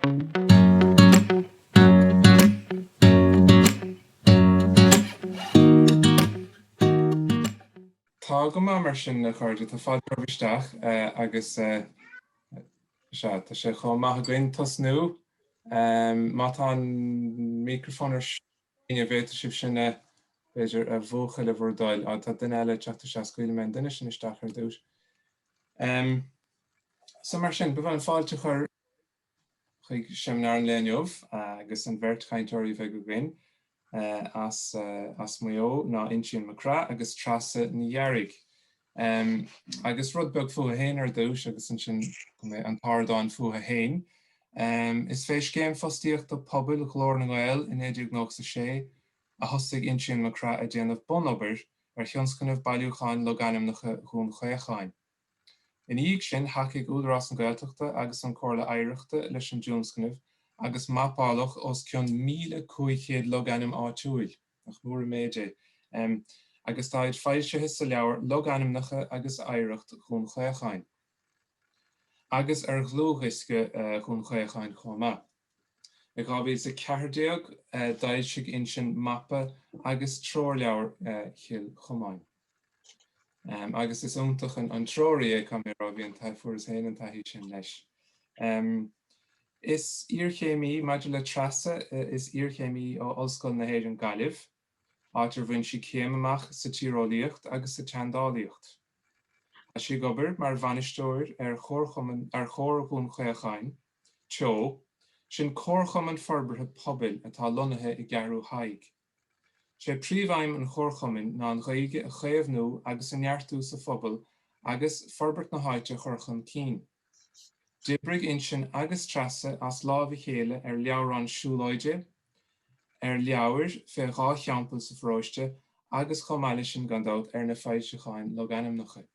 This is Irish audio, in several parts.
Tá go maith mar sin a chairde, tá fáilte romhaibh isteach agus sea, tá sé chomh maith againn tosnú. Má tá an microphone ar siúl, an bhféadfadh sibh sin a, b'fhéidir, a mhúchadh le bhur dtoil. Á, tá duine eile ag teacht isteach, scaoilfidh mé an duine sin isteach ar dtús. So mar sin, ba mhaith liom fáilte a chur chuig seimineár an lae inniu agus an bheirt chainteoirí a bheidh againn as Maigh Eo ná Uinsíonn Mac Craith agus Treasa Ní Ghearraigh. Agus rud beag fútha féin ar dtúis agus ansin an t-ardán fútha féin. Is fé Scéim Fostaíochta Pobail Ghlór na nGael i 1996 a thosaigh Uinsíonn Mac Craith ag déanamh bun-obair ar thionscnamh Bailiúcháin Logainmneacha Dhún Chaocháin. Ina dhiaidh sin, thacaigh Údarás na Gaeltachta agus an Comhairle Oidhreachta leis an dtionscnamh agus mapáladh os cionn 1,500 logainm áitiúil, nach mór an méid é, agus tá iad foilsithe sa leabhar Logainmneacha agus Oidhreacht Dhún Chaocháin agus ar dhlúthdhiosca Dhún Chaocháin chomh maith. I 2014 d'fhoilsigh Uinsíonn mapa agus treoirleabhar Chill Chomáin. Agus is iontach an treoir í, caithfidh mé a rá, bhí an taithí, fuaireas féin an taithí sin leis. Is iarchéimí maidir le Treasa, is iarchéimí í ó Ollscoil na hÉireann Gaillimh, áit ar bhain sí céim amach sa tíreolaíocht agus sa tseandálaíocht. Tá sí ag obair mar bhainisteoir ar Chomharchumann ar Chomhar Dhún Chaocháin. Teo, sin Comharchumann Forbartha Pobail atá lonnaithe i gCeathrú Thaidhg. Sé príomhaidhm an Chomharchumainn ná an Ghaeilge a chaomhnú agus a neartú sa phobal agus forbairt na háite a chur chun cinn. D'oibrigh Uinsíonn agus Treasa as láimh a chéile ar leabhrán siúlóide, ar leabhar fé dhá theampall sa pharóiste agus chomh maith le sin gan dabht ar na foilseacháin logainmneacha.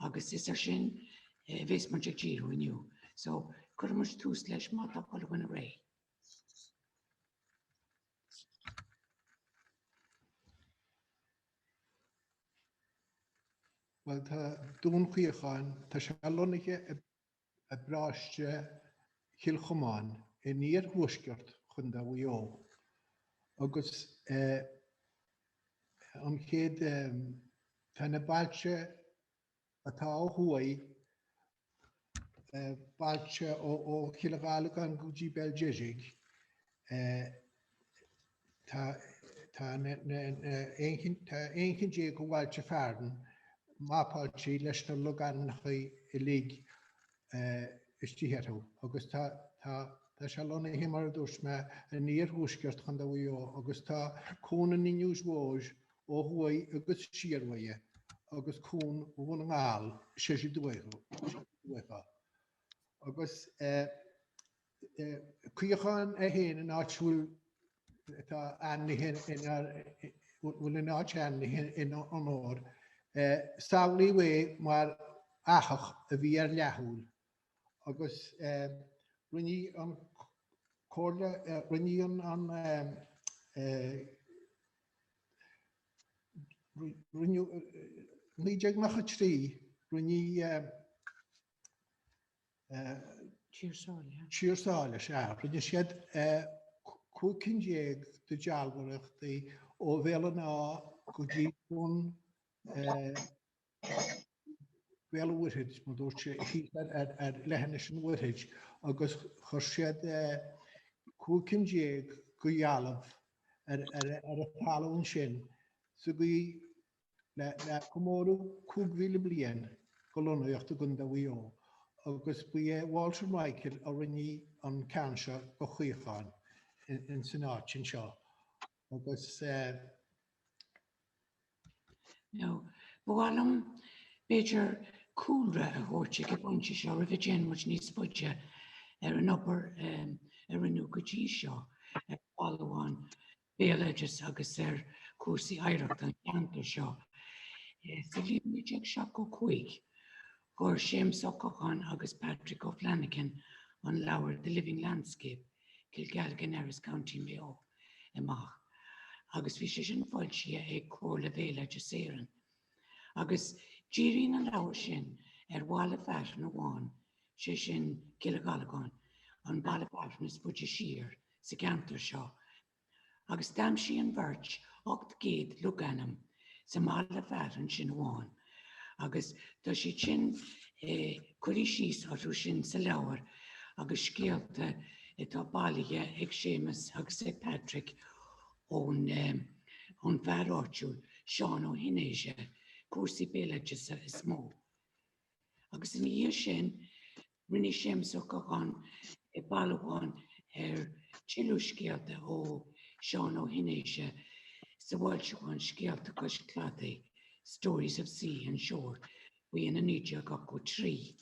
Agus is ar sin a bhéas muid ag díriú inniu. So, cuirfidh muid tús leis má tá chuile dhuine réidh. Bhuel tá Dún Chaocháin, tá sé lonnaithe i i bparóiste Chill Chomáin in iarthuaisceart Chontae Mhaigh Eo agus an chéad tá na bailte atá ó thuaidh bailte ó Chill Ghallagáin go dtí Béal Deirg Tá aon cheann déag de bhailte fearainn mapáilte leis na logainmneacha uilig istigh orthu agus tá sé lonnaithe, mar a dúirt mé, in iarthuaisceart Chontae Mhaigh Eo agus tá cuan an Inbhir Mhóir ó thuaidh agus siar uaidh agus cuan Dhún na nGall soir uathu. Agus Caochán é féin an áit a bhfuil atá ainmnithe ina bhfuil an áit ainmnithe ina onóir samhlaíodh é mar fhathach a bhí ar leathshúil agus rinne an chomhairle rinne an i 1993 rinne Tír Sáile, sea. Rinne siad cúig cinn déag de dealbhóireachtaí ó Bhéal an Átha go dtí chun Béal an Mhuirthead, mar dúirt sé, ar leithinis an Mhuirthid, agus chuir siad cúig cinn déag de dhealbha ar an talún sin sa gcaoi le comóradh 5,000 bliain de lonnaíocht i gContae Mhaigh Eo agus ba é Walter Michael a rinne an ceann seo de Chaochán in san áit anseo agus. Now, ba mhaith liom b'fhéidir cúlra a thabhairt ag an bpointe seo roimh a dtéann muid níos faide ar an obair a rinneadh go dtí seo ar bhailiúchán béaloidis agus ar chúrsaí oidhreachta an cheantair seo. Sa bhliain 1975, chuir Séamas Ó Catháin agus Patrick O'Flanagan an leabhar The Living Landscape, Kilgalligan Erris County Mayo amach agus bhí sé sin foilsithe ag Comhairle Bhéaloideas Éireann. Agus díríonn an leabhar sin ar bhaile fearainn amháin sé sin Cill Ghallagáin, an baile fearainn is faide siar sa gceantar seo, agus d'aimsigh an bheirt 800 logainm sa mbaile fearainn sin amháin, agus tá siad sin curtha síos orthu sin sa leabhar agus scéalta atá bailithe ag Séamas agus ag Patrick ón ón bhfear áitiúil, Seán Ó hEinirí. Cúrsaí béaloideasa is mó. Agus ina dhiaidh sin, rinne Séamas Ó Catháin bailiúchán ar tuilleadh scéalta ó Seán Ó hEinirí sa bhfoilseachán Scéalta Chois Cladaigh, Stories of Sea and Shore, faoi in 1983.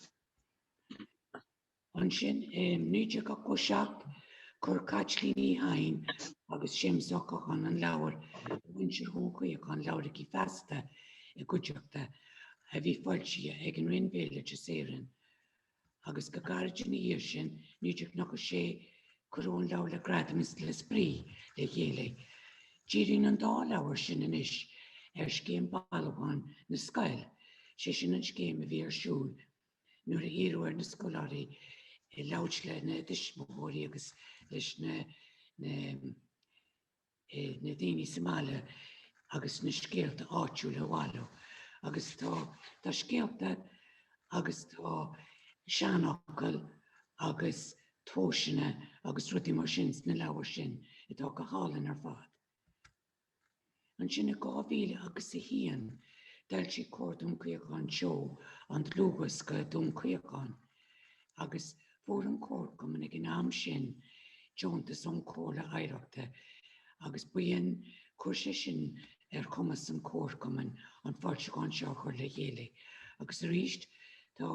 Ansin i 1987 chuir Caitlín Uí Sheighin agus Séamus Ó Catháin an leabhar Muintir Dhún Chaocháin, Labhraigí Feasta i gcuideachta a bhí foilsithe ag an Roinn Bhéaloideas Éireann agus go gairid ina dhiaidh sin, 1996 cuireadh an leabhar le Gradam is le Spraoi le chéile. Díríonn an dá leabhar sin anois ar scéim bailiúcháin na scoil, sé sin an scéim a bhí ar siúl i Nuair a iarradh ar na scoláirí labhairt lena dtuismitheoirí agus leis na na daoine sa mbaile agus na scéalta áitiúla a bhailiú agus tá tá scéalta agus tá seanfhocail agus tomhaiseanna agus rudaí mar sin sna leabhair sin atá go hálainn ar fad. Ansin i 2001, d'fhoilsigh Comhar Dún Chaocháin Teo an dlúthdhiosca Dún Chaocháin agus fuair an comharchumann ag an am sin deontas ón Chomhairle Oidhreachta agus b'in, chuir sé sin ar chumas an chomharchumainn an foilseachán seo a chur le chéile agus arís tá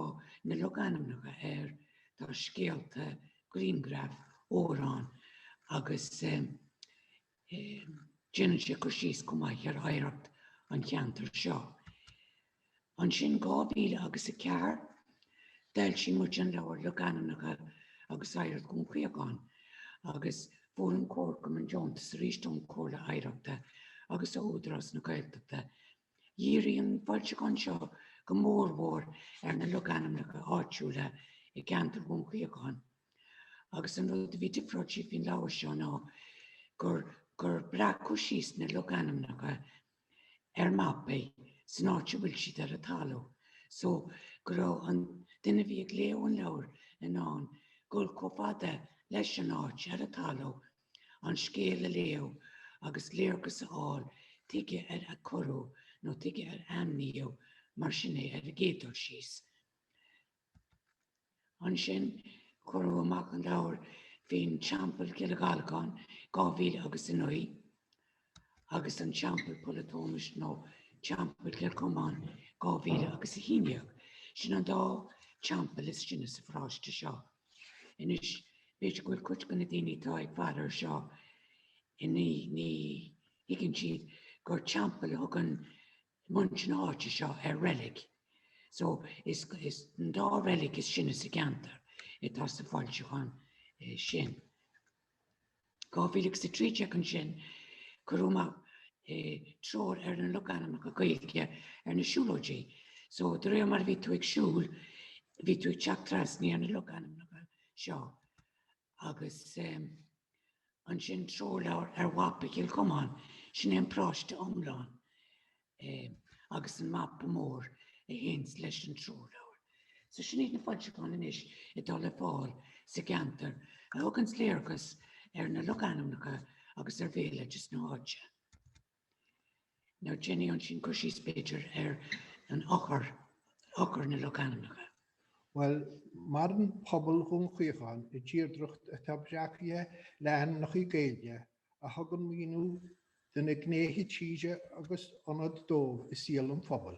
na logainmneacha air, tá scéalta, grianghraif, amhráin agus. Déanann sé cur síos chomh maith ar oidhreacht an cheantair seo. Ansin 2004, d'fhoilsigh muid an leabhar Logainmneacha agus Oidhreacht Dhún Chaocháin agus fuair an Comharchumann deontas aríst ón Chomhairle Oidhreachta agus ó Údarás na Gaeltachta. Dhírigh an foilseachán seo go mór mhór ar na logainmneacha áitiúla i gceantar Dhún Chaocháin. Agus an rud a bhí difreáilte faoin leabhar seo ná gur gur breacadh síos na logainmneacha ar mapaí san áit a bhfuil siad ar an talamh. So go raibh an duine a bhí ag léamh an leabhair in ann dul chomh fada leis an áit ar an talamh an scéal a léamh agus léargas a fháil tuige ar a cuireadh nó tuige ar ainmníodh mar sin é ar an gcéad dul síos. Ansin cuireadh amach an leabhar faoin Teampall Chill Ghallagáin, 2009 agus an Teampall Pholl an tSómais nó Teampall Chill Chomáin, 2011. Sin an dá teampall is sine sa pharáiste seo. Anois, b'fhéidir go bhfuil cuid de na daoine atá ag faire ar seo inniu, ní thuigeann siad gur teampall a thugann i muintir na háite seo ar reilig. So is an dá reilig is sine sa gceantar atá sa bhfoilseachán sin. 2003 tháinig ansin cur amach treoir ar na logainmneacha Gaeilge ar na siúlóidí. So de réir mar a bhí tú ag siúl bhí tú ag teacht trasna ar na logainmneacha seo Agus ansin treoirleabhar ar mhapa Chill Chomáin, sin é an paróiste iomlán agus an mapa mór a théanns leis an treoirleabhar. So sin iad na foilseacháin anois atá le fáil sa gceantar a thuganns léargas ar na logainmneacha agus ar bhéaloideas na háite. Now déanfaidh mé ansin cur síos b'fhéidir ar an eochair, eochair na logainmneacha. Bhuel, maireann pobal Dhún Chaocháin i dtírdreacht atá breacaithe le hainmneacha Gaeilge a thugann míniú do na gnéithe tíre agus ionad dóibh i saol an phobail.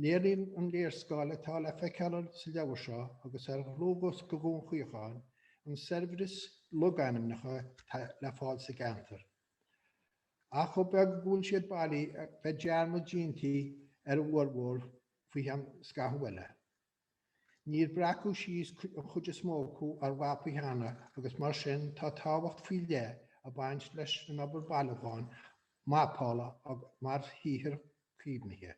Léiríonn an léarscáil atá le feiceáil sa leabhar seo agus ar dhlúthdhiosca Dhún Chaocháin an saibhreas logainmneacha atá le fáil sa gceantar. Ach ab é go bhfuil siad bailithe bheadh dearmad déanta ar a bhformhór faoi cheann scathamh eile, níor breacadh síos an chuid is mó acu ar mhapaí cheana agus mar sin tá tábhacht faoi leith ag baint leis an obair bhailiúcháin mapála mar shaothar caomhnaithe.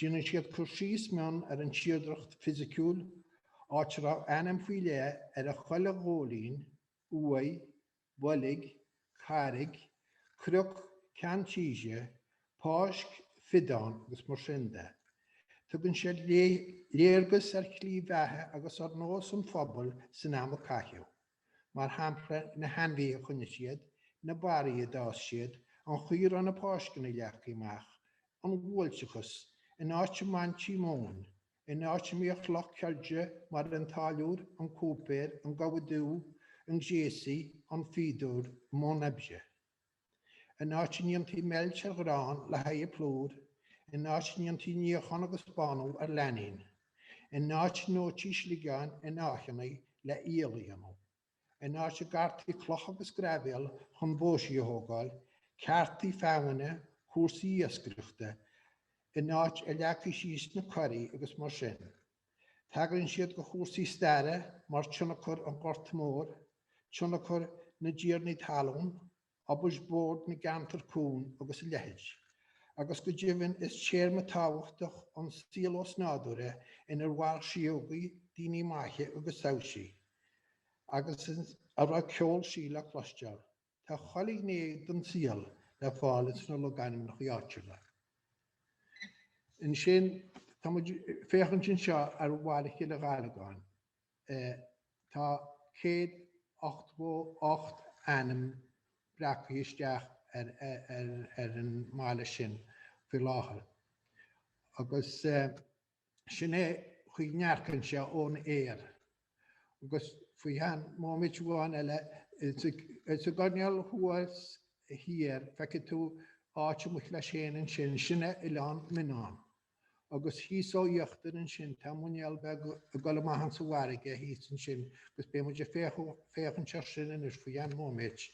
Déanann siad cur síos mion ar an tírdreacht fisiciúil, áit a raibh ainm faoi leith ar chuile ghóilín, uaigh, boilg, carraig, cnoc, ceann tíre, páirc, fiodán agus mar sin de. Tugann siad léargas ar shlí bheatha agus ar nósanna an phobail san am a caitheadh. mar shampla na hainmhithe a choinnigh siad, na barraí a d'fhás siad, an chaoi a raibh na páirceanna leagthaí amach, an bhuailteachas, an áit a mbaintí móin, an áit a mbíodh lucht ceirde mar an táilliúir, an cúipéir, an gabha dubh, an gréasaí, an fíodóir, i mbun oibre. An áit a ndéantaí meilt ar ghrán le haghaidh plúr, an áit a ndéantaí níochán agus bánú ar flainín, an áit a ndóití sliogáin in áitheanna le aol a dhéanamh, an áit a gcartaí cloch agus graibhéal chun bóithrí a thógáil, cearta feamainne, cúrsaí iascaireachta, an áit a leagtaí síos na curraí agus mar sin. Tagraíonn siad do chúrsaí staire mar tionchar an Ghorta Mhóir, tionchar na dtiarnaí talún, obair Bhord na gceantar cúng agus a leithéid. Agus go deimhin is téama tábhachtach an saol osnádúrtha inar mhair síógaí, daoine maithe agus taibhsí. Agus a raibh ceol sí le cloisteáil. Tá chuile ghné den saol le fáil ins na logainmneacha áitiúla. Ansin tá muid féachaint anseo ar Bhaile Chille Ghallagáin. Tá 188 ainm breacaithe isteach ar an mbaile sin faoi láthair agus. Sin é an chaoi a ndearcann sé ón aer. Agus faoi cheann móimint amháin eile, sa gcoirnéal thuas thiar, feicfidh tú áit amuigh leis fhéin ansin, sin é Oileán Mionnán. Agus thíos ó íochtar ansin, tá muinéal beag ag dul amach ins an bhfarraige thíos ansin, agus beidh muid ag féachaint ar sin anois faoi cheann móimint,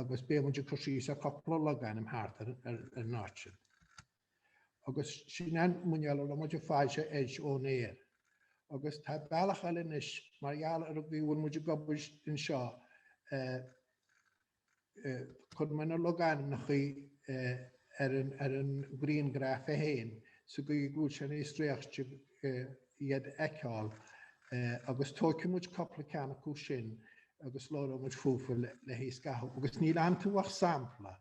agus beidh muid ag cur síos ar chupla logainm thart ar an áit sin. Agus sin an muinéal a raibh muid ag fáil sé fhéis ón aer. Agus tá bealach eile anois mar gheall ar an gcaoi a bhfuil muid ag obair anseo eh eh cuireann muid na logainmneachaí eh ar an ar an grianghraf é féin sa gcaoi go bhfuil sé níos réichte eh iad a fheiceáil eh agus tóigfidh muid cupla ceann acu sin agus labhróidh muid fúthu le le haghaidh scaitheamh. Agus níl iontu ach sampla.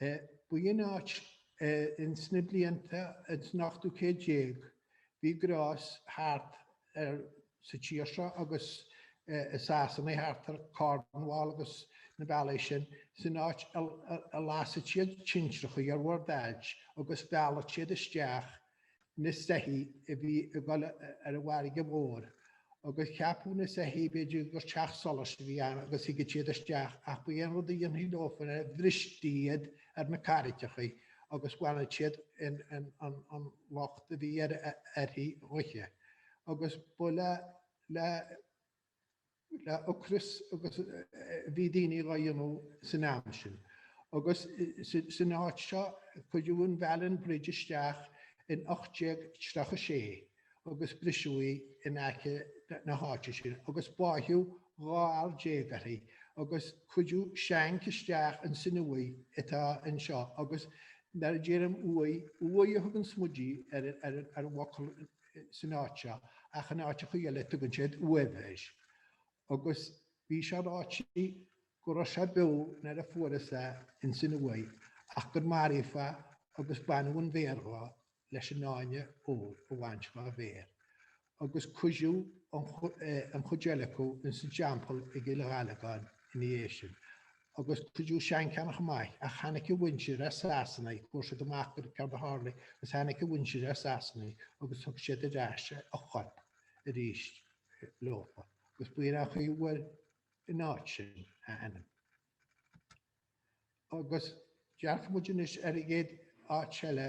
Ba í an áit in sna blianta ins an ochtú céad déag. Bhí gnás thart ar sa tír seo agus i Sasana thart ar Cornwall agus na bealaigh sin. San áit a lasadh siad tintreachaí ar bhord ailt agus mhealladh siad isteach na soithí a bhí ag dul ar an bhfarraige mhór agus ceapadh na soithí b'fhéidir gur teach solais a bhí ann agus thigeadh siad isteach ach ba é an rud a dhéanfaí leofa ná bhristí iad ar na carraigeachaí agus bhaineadh siad an lucht a bhí uirthi dhuithe agus ba le le ocras agus bhí daoine dhá dhéanamh san am sin. Agus san áit seo cuireadh an Bhailean Bridge isteach in 1836 agus briseadh í in aice na háite sin agus báitheadh 12 fhear uirthi agus cuireadh seanc isteach ins an uaigh atá anseo agus mar a deirim uaigh, uaigh a thugann muide ar an bhfocal san áit seo ach in áiteachaí eile tugann siad uaimh air. Agus bhí sé ráite go raibh sé beo nuair a fuarthas é ins an uaigh ach gur maraíodh é agus baineadh an mhéar dho leis an fháinne óir a bhaint dhá mhéar. Agus cuireadh an chuid eile acu ins an dteampall i gCill Ghallagáin ina dhiaidh sin. agus cuireadh seancheannach amach ach tháinic a mhuintir as Sasanaigh, fuair siad amach go raibh céard a tharlaigh agus tháinic a mhuintir as Sasanaigh agus thug siad ar ais a chorp arís leofa agus b'in an chaoi a bhfuair an áit sin a ainm. Agus dearcfaidh muid anois ar an gcéad áit eile.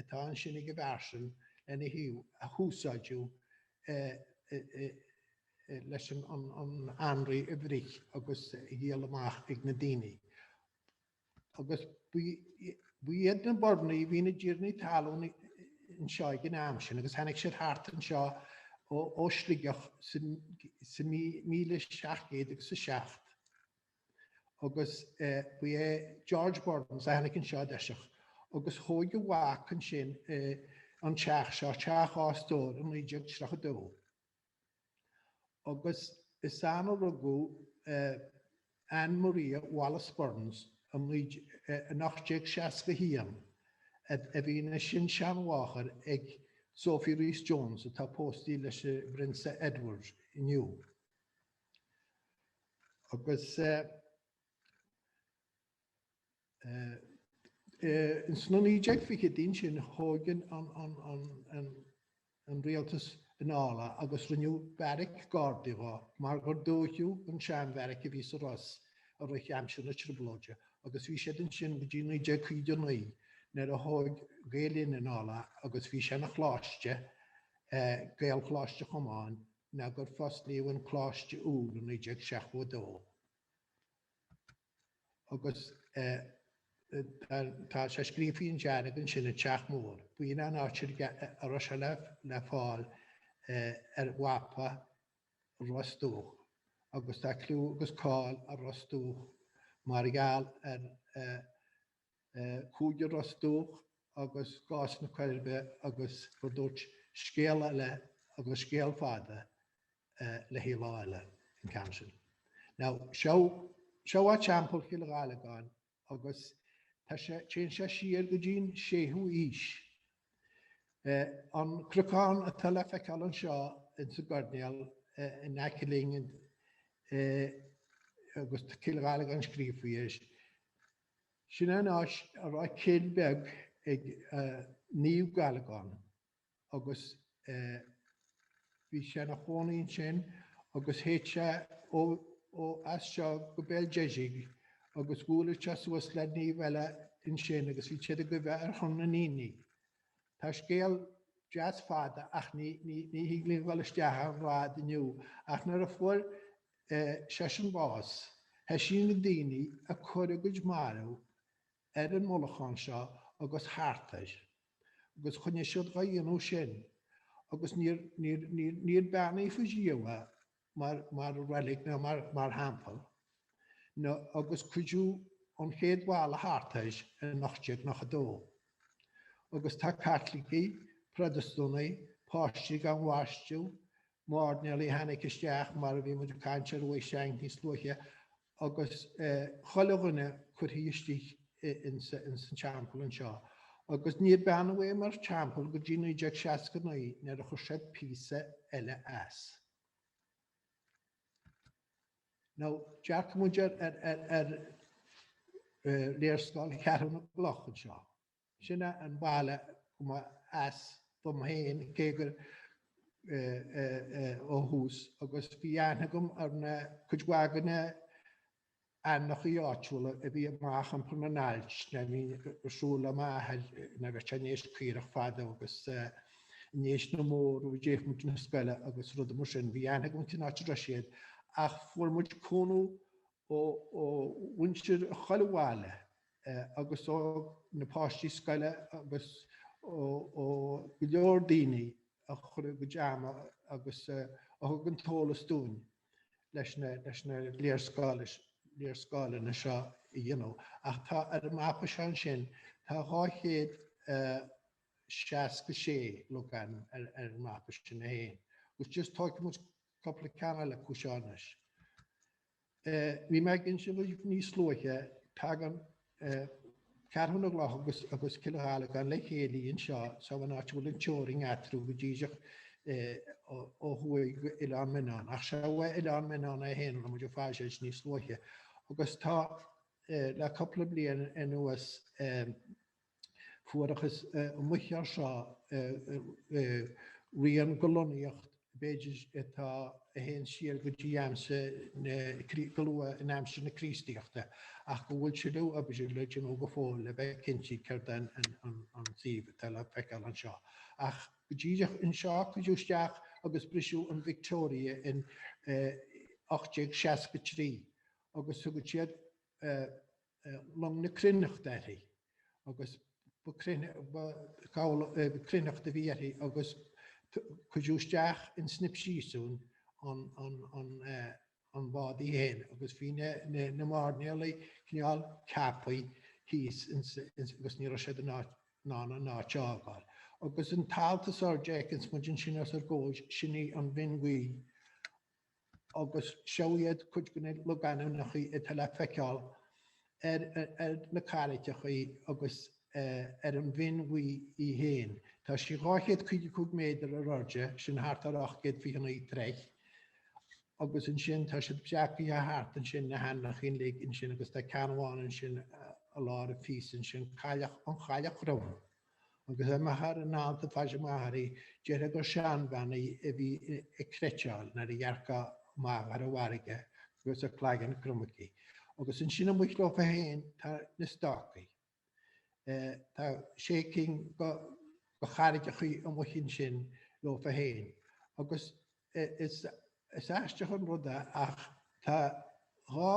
atá ansin ag an bpearsain lena thaobh a húsáideadh leis an anraith a bhruith agus a dhíol amach ag na daoine. Agus ba iad na Burnaigh a bhí ina dtiarnaí talún anseo ag an am sin agus tháinig siad thart anseo ó Shligeach sa 1707. agus ba é George Bournes a tháinig anseo i dtoiseach agus thóg a mhac ansin an teach seo, teach dhá stór i 1932. Agus is ann a rugadh Anne Maria Wallace Bournes in 1861 a bhí ina sin-seanmháthair ag Sophie Rhys-Jones atá póstaí leis an bPrionsa Edward inniu. Agus in sna 1920idí ansin thóg an Rialtas anall é agus rinneadh beairic Gardaí dhó mar gur dóigheadh an seanbheairic a bhí sa Ros i rith aimsir na Trioblóide agus bhí siad ansin go dtí 1959 nuair a thóg Gael Linn anall é agus bhí sé ina choláiste, Gaelcholáiste Chomáin. nó gur fosclaíodh an Coláiste úr i 1972 agus tá sé scríofaí i ndearg ansin an Teach Mór. B'in an áit a raibh sé le fáil ar mhapa Ros Dumhach agus tá cliú agus cáil ar Ros Dumhach mar gheall ar Cúigear Ros Dumhach agus gás na Coiribe agus gur dúirt scéal eile agus scéal fada le haghaidh lá eile an ceann sin. Now seo a' teampall Chill Ghallagáin agus tá sé, téann sé siar go dtí'n séú aois. An cnocán atá le feiceáil anseo ins an gcoirnéal in aice linn agus Cill Ghallagáin scríofa faoi, Sin an áit a raibh cill beag ag Naomh Gallagán agus bhí sé na chónaí ansin agus théadh sé ó as seo go Béal Deirg agus bhuaileadh sé suas le naomh eile ansin agus bhíodh siad ag guibhe ar shon na ndaoine. Tá scéal deas fada ach ní thig linn dhul isteach ann ar fad inniu ach nuair a fuair seisean bás, thoisigh na daoine a cur a gcuid mairbh ar an mullachán seo agus thart air, agus choinnigh siad dhá dhéanamh sin, agus níor, níor, níor, níor beannaíodh ariamh é mar, mar reilig ná mar, mar theampall. Now, agus cuireadh an chéad bhalla thart air in 1892. Agus tá Caitlicigh, Protastúnaigh, páistí gan bhaisteadh, mairnéalaigh a tháinig isteach mar a bhí muid ag caint ar uaigh Sheáin níos luaithe agus chuile dhuine cuirthe istigh ins an teampall anseo agus níor beannaíodh é mar teampall go dtí 1969 nuair a chuir siad píosa eile as. Now, dearcaidh muid ar léarscáil Cheathrú na gCloch anseo. Sin é an baile go mba as dom féin cé gur ó thús agus bhí aithne agam ar na cuid mhaith de na h-ainmneachaí áitiúla a bhí amach i mbarr na n-ailt le bheith ag siúl le m'athair nuair a bhíodh sé in éis caorach fadó agus in éis na mbó roimh a dtéadh muid na scoile agus rudaí mar sin. Bhí aithne agam cén áit a raibh siad ach fuair muid cúnamh ó mhuintir chuile bhaile agus ó na páistí scoile agus ó go leor daoine a chuir a gcuid ama agus a thug an t-eolas dúinn leis na léarscáileanna seo a dhéanamh. Ach tá ar an mapa seo ansin, tá 266 logainm ar an mapa sin é féin. Agus just tóigfidh muid cupla ceann eile acu seo anois. Bhí mé ag inse dhaoibh níos luaithe, tagann Ceathrú na gCloch agus Cill Ghallagáin le chéile anseo sa, san áit a bhfuil an teorainn eatarthu go díreach ó thuaidh go Oileán Mionnán. Ach seo bheadh Oileán Mionnán é féin a raibh muid ag faire air níos luaithe. Agus tá le cúpla bliain anuas Fuarathas amuich air seo rian de lonnaíocht b'fhéidir atá a théann siar go dtí aimsir na, go luath in aimsir na Críostaíochta ach go bhfuil tuilleadh oibre le déanamh go fóill le bheith cinnte céard an, an, an, an suíomh atá le feiceáil anseo. Ach go díreach anseo cuireadh isteach agus briseadh an Victoria in 1863 agus thugadh siad long na cruithneachta uirthi agus ba cruithneacht a bhí uirthi agus cuireadh isteach in Snip Síosúin an bád í fhéin agus bhí na mairnéalaigh cineál ceapthaí thíos agus ní raibh siad in ann an áit a fhágáil. Agus an t-alt is airde a fheiceanns muid ansin os ár gcomhair sin í an Bhinn Bhuí agus seo iad cuid de na logainmneacha atá le feiceáil ar na carraigeacha agus ar an Bhinn Bhuí í féin. Tá sí 255 méadar ar airde, sin thart ar 829 troigh, agus ansin tá siad breacaithe thart ansin na hainmneacha uilig ansin agus tá ceann amháin ansin i lár an phíosa ansin, Cailleach an Chailleach Chrom. Agus amach ar an alt tá face amach uirthi, déarfá gur seanbhean í a bhí ag cniotáil nuair a dhearcfá amach ar an bhfarraige agus a cloigeann crom aici. Agus ansin amuigh leofa féin tá na stácaí. Tá sé cinn de charraigeachaí amuigh ansin leofa féin. Agus is aisteach an rud é ach tá dhá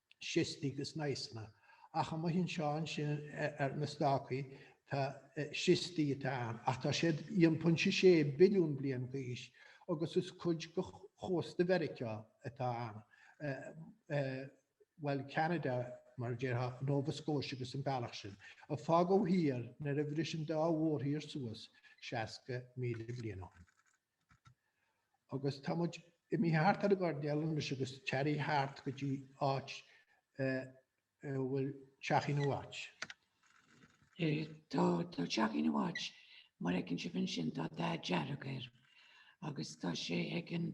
schistí agus gneisseanna. Ach amuigh anseo ansin ar na stácaí tá schistí atá ann ach tá siad aon pointe sé billiún bliain d'aois agus is cuid de chósta Mheiriceá atá ann, bhuel Ceanada mar a déarfá, Nova Scotia agus an bealach sin, a fágadh thiar nuair a bhris an dá mhórthír suas seasca míle bliain ó shin. Agus tá muid imithe thart ar an gcoirnéal anois agus téirigh thart go dtí áit a bhfuil Teachín a' Watch. Tá Teachín a' Watch mar a fheiceann sibh ansin, tá dath dearg air agus tá sé ag an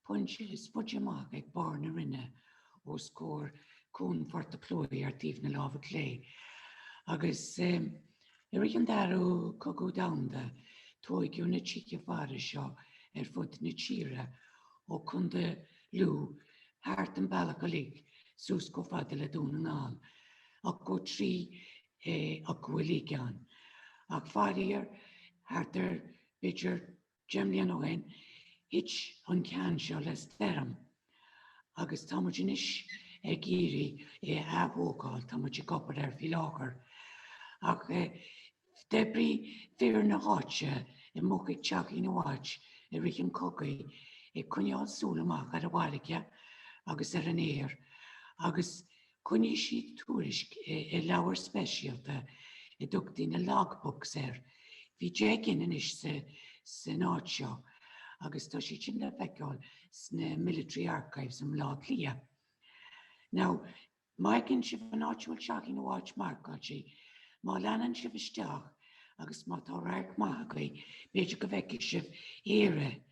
phointe is faide amach ag barr na Rinne os comhair Cuan Phort a' Chlóidh ar thaobh na láimhe clé agus I rith an Darú Cogadh Domhanda tóigeadh na tithe faire seo ar fud na tíre ó Contae Lú thart an bealach uilig suas chomh fada le Dún na nGall 83 acu uilig ann ach faraor thart ar b'fhéidir Deich mbliana ó shin, thit an ceann seo le stoirm agus tá muid anois ag iarraidh é a atógáil, tá muid ag obair air faoi láthair. Ach d'oibrigh fir na háite amuigh ag Teachín a' Watch i rith an chogaidh ag coinneáil súil amach ar an bhfarraige agus ar an aer agus Choinnigh siad tuairisc i leabhar speisialta a dtugtaí na Log Books air. Bhí deich gcinn anois san áit seo agus tá siad sin le feiceáil sna Military Archives i mBlá Cliath. Now, má fheiceann sibh an áit a bhfuil Teachín a' Watch marcáilte, má leanann sibh isteach agus má tá radharc maith agaibh, b'fhéidir go bhfeicfidh sibh Éire.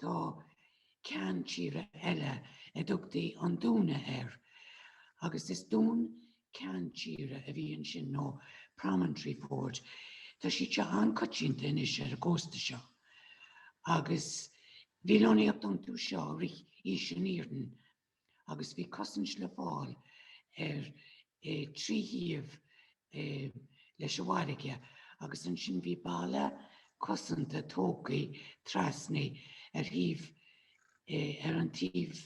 Tá ceann tíre eile a dtugtaí An Dúna air agus is dún ceann tíre a bhí ansin nó promontory fort. Tá siad seo an-coitianta anois ar an gcósta seo agus bhí lonnaíocht iontu seo i rith Aois an Iarainn agus bhí cosaint le fáil ar trí thaobh leis an bhfarraige agus ansin bhí balla cosanta tógtha trasna ar thaobh ar an taobh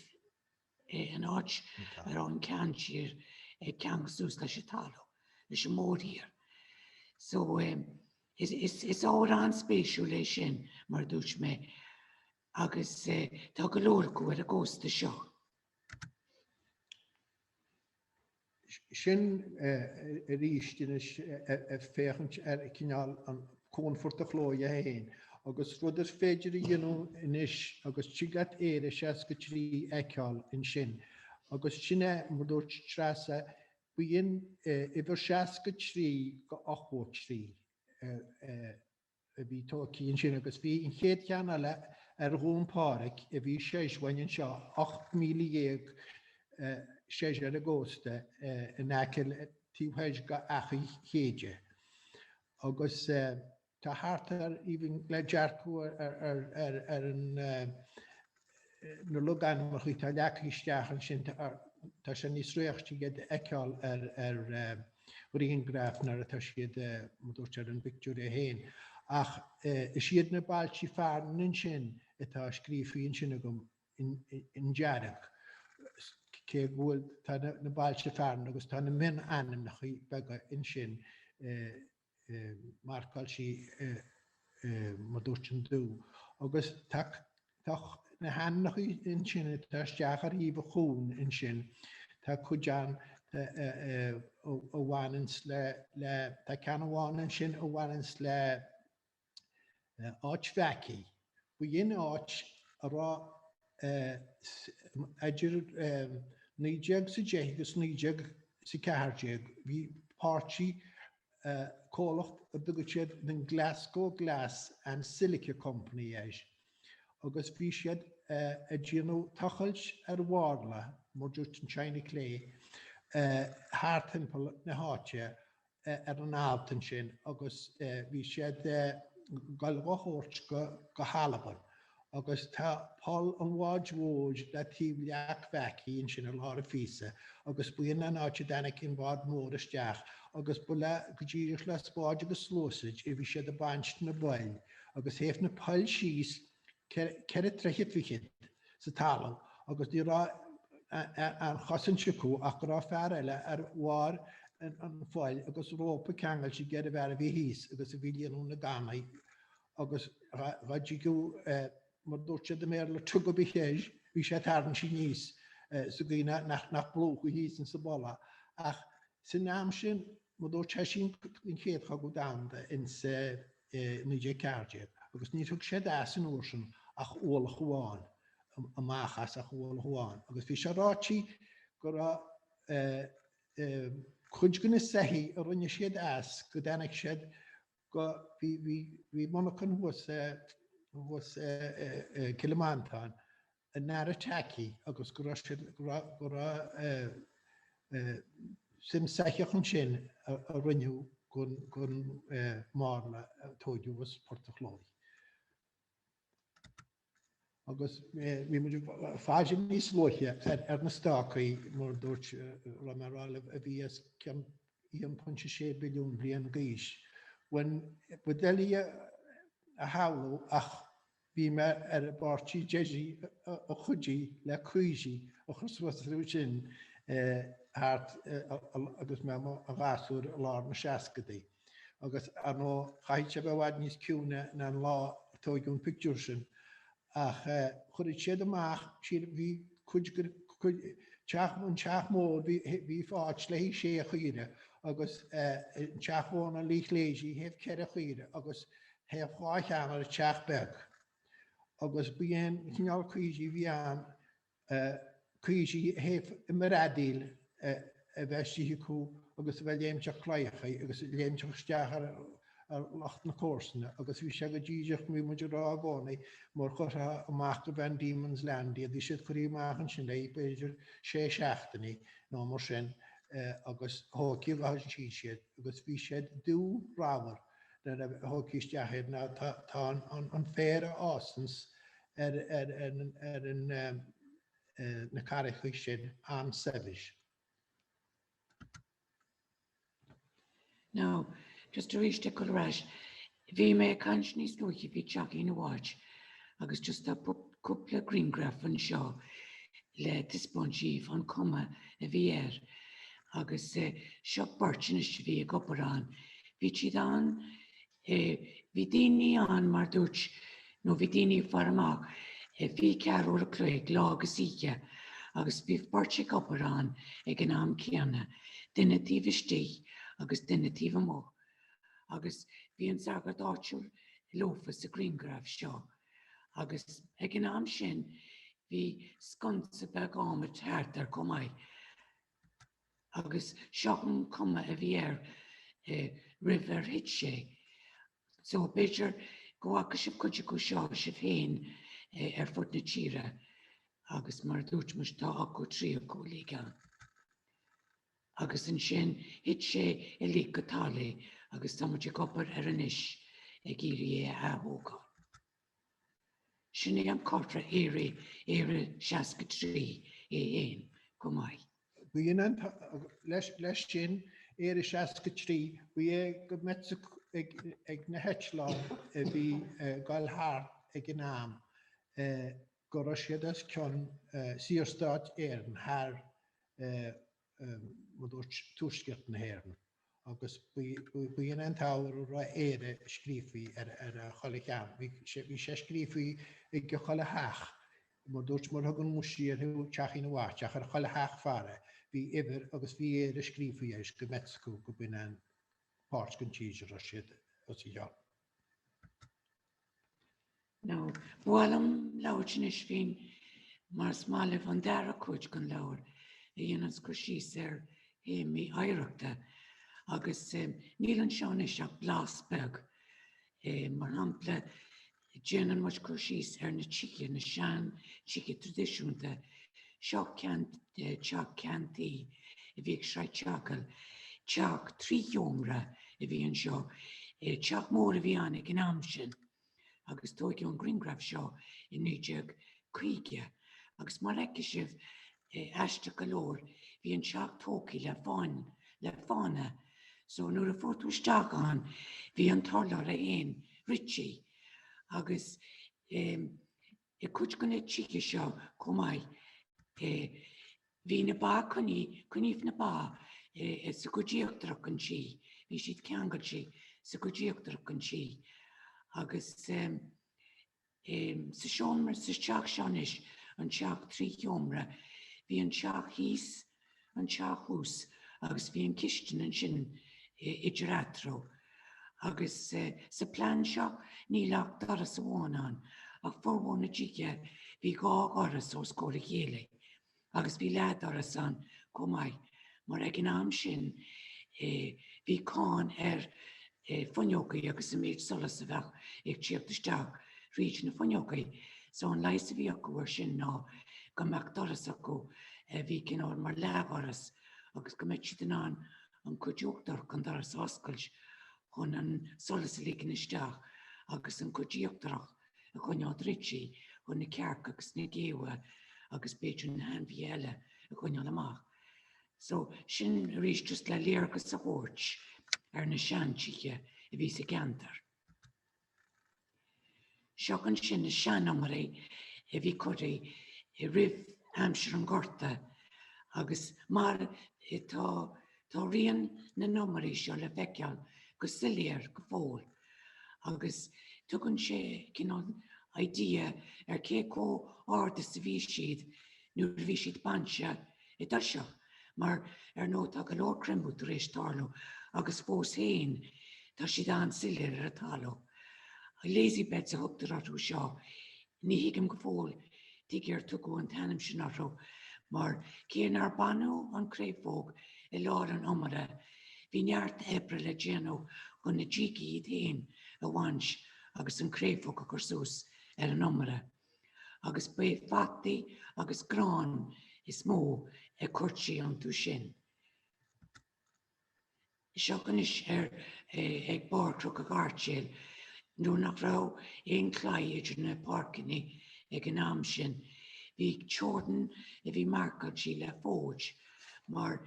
an áit a raibh an ceann tíre ag ceangal suas leis an talamh leis an mórthír. So is ábhar an-spéisiúil é sin mar a dúirt mé Agus tá go leor acu ar an gcósta seo. Sin arís anois ag féachaint ar cineál an cuan Phort an Chlóidh é féin agus rud is féidir a dhéanamh anois agus tig leat Éire 63 a fheiceáil ansin. Agus sin é, mar dúirt Treasa, ba í an uimhir 63 de 83. a bhí tógthaí ansin agus bhí an chéad cheann eile ar Dhún Phádhraic a bhí soir uainn anseo ocht míle dhéag soir ar an gcósta in aice le taobh thoir de Achaidh Chéide agus tá thart ar even le dearcadh ar an Na logainmneachaí atá leagtha isteach ansin tá sé níos réichte iad a fheiceáil ar ghrianghraf nuair atá siad mar dúirt ar an bpictiúr é féin. Ach is iad na bailtí fearainn ansin atá scríofaí ansin agam in dearg cé go bhfuil tá na bailte fearainn agus tá na mion-ainmneacha beaga ansin marcáiltí mar dúirt in dubh agus tá na hainmneacha ansin atá isteach ar thaobh an chuain ansin tá cuid ann a bhaineanns le tá ceann amháin ansin a bhaineanns le Áit Mheaicí. Ba í an áit a raibh idir 19 's a deich agus 19 's a ceathair déag bhí páirtí, comhlacht a dtugadh siad The Glasgow Glass and Silica Company air agus bhí siad ag déanamh tochailt ar mharla, mar dúirt an China Clay, thart thimpeall na háite ar an alt ansin agus bhí siad ag goil á thabhairt go hAlbain agus tá poll an bháid mhóir le taobh leac Mheaicí ansin i lár an phíosa agus ba í an áit a dtáinic an bád mór isteach agus ba le go díreach le spáid agus sluasaid a bhí siad ag baint na bpoill agus théadh na poill síos ceithre troithe fichead sa talamh agus ní raibh aon chosaint acu ach go raibh fear eile ar bharr an phoill agus rópa ceangailte aige ar an bhfear a bhí thíos agus a bhí líonadh na gcannaí agus dhá dtigeadh mar dúirt siad i mBéarla tug a bhí chéis bhí sé tarraingthe aníos sa gcaoi nach nach bplúchfaí thíos in sa bpoll é ach san am sin mar dúirt sé sin an chéad chogadh domhanda in sa i 1914 agus níor thug siad as an uair sin ach ualach amháin, amach as ach ualach amháin agus bhí sé ráití go raibh cuid go na soithí a rinne siad as go dtainic siad go, bhí, bhí, bhí monarchan thuas i, thuas i Cill Mhantáin an Aire Tacaí agus go raibh sin, go raibh suim soitheach ansin a rinneadh gon marla a tóigeadh as Port a' Chlóidh. Agus bhí muid ag faire níos luaithe ar na stácaí mar dúirt raibh mé a rá libh a bhí os cionn 1.6 billiún bliain g'aois. Bhuel, ba doiligh é a shamhlú ach Bhí mé ar an bpáirtí deiridh a chuidigh le caoirigh a chur suas ansin thart agus mé i mo ghasúr i lár na seascaidí. Agus, ar ndóigh, chaithfeadh sé a bheith i bhfad níos ciúine ná an lá a tóigeadh an pictiúr sin. Ach chuireadh siad amach, siad, bhí cuid, cuid, teach, an teach mór, bhí, bhí fáilte le hí sé chaoirigh agus an teach mhór ná lig léithi théadh ceithre chaoirigh agus Théadh dhá cheann ar an teach beag agus ba é an cineál caoirigh a bhí ann caoirigh a théadh i mbradaíl a bheadh istigh acu agus a bheadh ag léimt ar chlaíochaí agus ag léimt isteach ar lucht na comharsana agus bhí sé go díreach, bhí muid ag rá i gcónaí mar chuirtheá amach go Van Diemen's Land iad, bhí siad curthaí amach ansin b'fhéidir sé seachtainí nó mar sin agus thógthaí agus shuíd siad agus bhí siad dubh ramhar. nuair a thógtaí isteach iad mar tá an féar a fhásanns ar na carraigthe sin an-saibhir. Now, just aríst ag goil ar ais, bhí mé ag caint níos luaithe faoi Teachín a' Watch agus just tá cúpla grianghraf anseo le taispeáint díbh an cuma a bhí air agus seo beirt anois a bhí ag obair ann. Bhí siad ann bhí daoine ann mar dúirt nó bhí daoine ag faire amach fiche ceathair uair an chloig lá agus oíche agus bhí beirt ag obair ann ag an am céanna, duine taobh istigh agus duine taobh amuigh. Agus bhí an sagart áitiúil leofa sa grianghraf seo. Agus ag an am sin bhí sconsa beag adhmaid thart air chomh maith. Agus seo an cuma a bhí air roimh ar thit sé. So b'fhéidir go bhfaca sibh cuid acu seo sibh féin ar fud na tíre agus mar a dúirt mise tá ochtó trí acu uilig ann. Agus ansin thit sé uilig go talamh agus tá muid ag obair air anois ag iarraidh é a athógáil. Sin é an comhartha Éire Éire 63 ann chomh maith. B'in an t-ábhar leis sin Éire 63 ba é go mbeadh a fhios ag na heitleáin a bhí ag goil thart ag an am go raibh siad os cionn Saorstát Éireann thar mar a dúirt Tuaisceart na hÉireann agus b'in an t-ábhar a raibh Éire scríofa ar achuile cheann. Bhí sé bhí sé scríofa ag achuile theach. Mar a dúirt mar a thugann muide air Teachín an Watch ar achuile theach faire bhí uimhir agus bhí Éire scríofa air is go mbeadh a fhios acu go b'in an pháirt den tír a raibh siad os a chionn. Now ba mhaith liom labhairt anois faoin más maith libh an dara cuid den leabhar a dhéananns cur síos ar théamaí oidhreachta agus níl anseo anois ach blas beag. Mar shampla, déanann muid cur síos ar na tithe, na sean-tithe traidisiúnta Seo ceann de teach ceann tuí a bhí ag Sraith an tSeagail. Teach trí sheomra a bhí anseo. Teach mór a bhí ann ag an am sin agus tóigeadh an griangraf seo i 1950 agus mar fheicfidh sibh, aisteach go leor, bhí an teach tógtha le fáinne, le fána, so nuair a chuaigh tú isteach ann bhí an t-urlár a'inn, Richie, agus eh. I gcuid de na tithe seo chomh maith bhí na ba coinnithe, coinníodh na ba sa gcuid íochtarach an tí, bhí siad ceangailte sa gcuid íochtarach an tí. Agus sa seomra, sa teach seo anois, an teach trí sheomra, bhí an teach thíos, an teach thuas agus bhí an cistin ansin idir eatarthu. Agus sa bplean seo níl ach doras amháin ann ach formhór na dtithe bhí dhá dhoras os comhair a chéile agus bhí leathdhoras ann chomh maith mar ag an am sin bhí cáin ar fuinneogaí agus an méid solas a bheadh ag tíocht isteach fríd na fuinneogaí so an leigheas a bhí acu ar sin ná go mbeadh doras acu a bhí cineál mar leathdhoras agus go mbeadh siad in ann an cuid uachtarach den doras a oscailt chun an solas a ligean isteach agus an cuid íochtarach a choinneál druidte chun na cearca agus na géabha agus b'fhéidir na hainmhithe eile a choinneál amach. So sin arís just le léargas a thabhairt ar na seantithe a bhí sa gceantar. Seo ansin na sean-iomairí a bhí curthaí roimh aimsir an Ghorta agus mar tá tá rian na n-iomairí seo le feiceáil go soiléir go fóill agus tugann sé cineál idea ar cé comh ard is a bhí siad nuair a bhí siad bainte I dtoiseach, mar ar ndóigh tá go leor creimeadh tar éis tarlú agus fós féin tá siad an-soiléir ar an talamh. Lazy beds a thugtar orthu seo. Ní thuigim go fóill tuige ar tugadh an t-ainm sin orthu mar cé nár baineadh an chréafóg i lár an iomaire bhí neart oibre le déanamh chun na dígí iad féin a bhaint agus an chréafóg a chur suas ar an iomaire. agus b'é fataí agus grán is mó a cuirtí iontu sin. Seo anois ar eh, ag barr Chnoc an Ghairtéil, nuair nach raibh aon claí idir na páirceannaí ag an am sin, bhí teorann a bhí marcáiltí le fóid, mar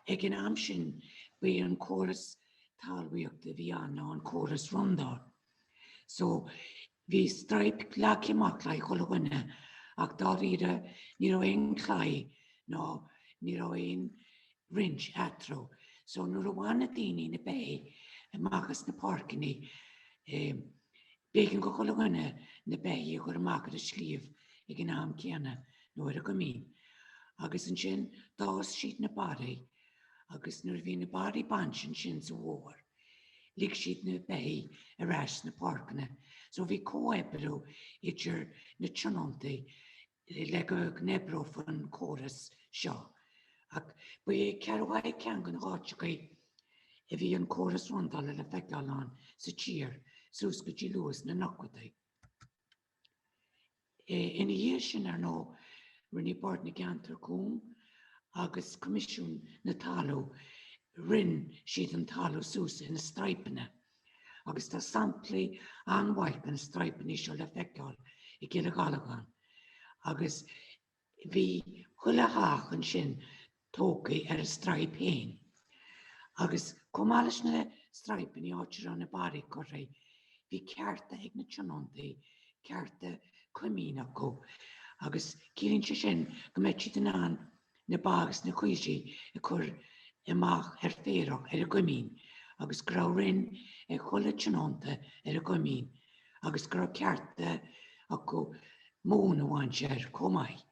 ag an am sin b'é an córas talmhaíochta a bhí ann ná an córas rondáil. So Bhí straip leagthaí amach le chuile dhuine ach dáiríre ní raibh aon chlaí ná ní raibh aon roinnt eatarthu so nuair a bhain na daoine na beithígh amach as na páirceanna b'éigean do chuile dhuine na beithígh a chur amach ar an sliabh ag an am céanna nó ar an gcoimín agus ansin d'fhás siad na barraí agus nuair a bhí na barraí bainte ansin sa bhfómhar Lig siad na beithígh ar ais sna páirceanna so bhí comhoibriú idir na tionóntaí le go n-oibreodh an córas seo. Ach ba é Ceathrú Thaidhg ceann de na háiteachaí a bhí an córas rondála le feiceáil ann sa tír suas go dtí luath sna nóchaidí. Ina dhiaidh sin, ar ndóigh, rinne Bord na gCeantar Cúng agus Coimisiún na Talú, roinn siad an talú suas ina straidhpeanna agus tá samplaí an-mhaith de na straidhpeanna seo le feiceáil i gCill Ghallagáin agus Bhí chuile theach ansin tógtha ar a straidhp fhéin. Agus chomh maith leis na straidhpeanna áit a raibh na barraí curtha, bhí cearta ag na tionóntaí, cearta coimín acu, agus ciallaíonn sé sin go mbeadh siad in ann na ba agus na caoirigh a chur amach ar féarach ar an gcoimín, agus go raibh roinn ag chuile tionónta ar an gcoimín. agus go raibh cearta acu móin a bhaint air chomh maith.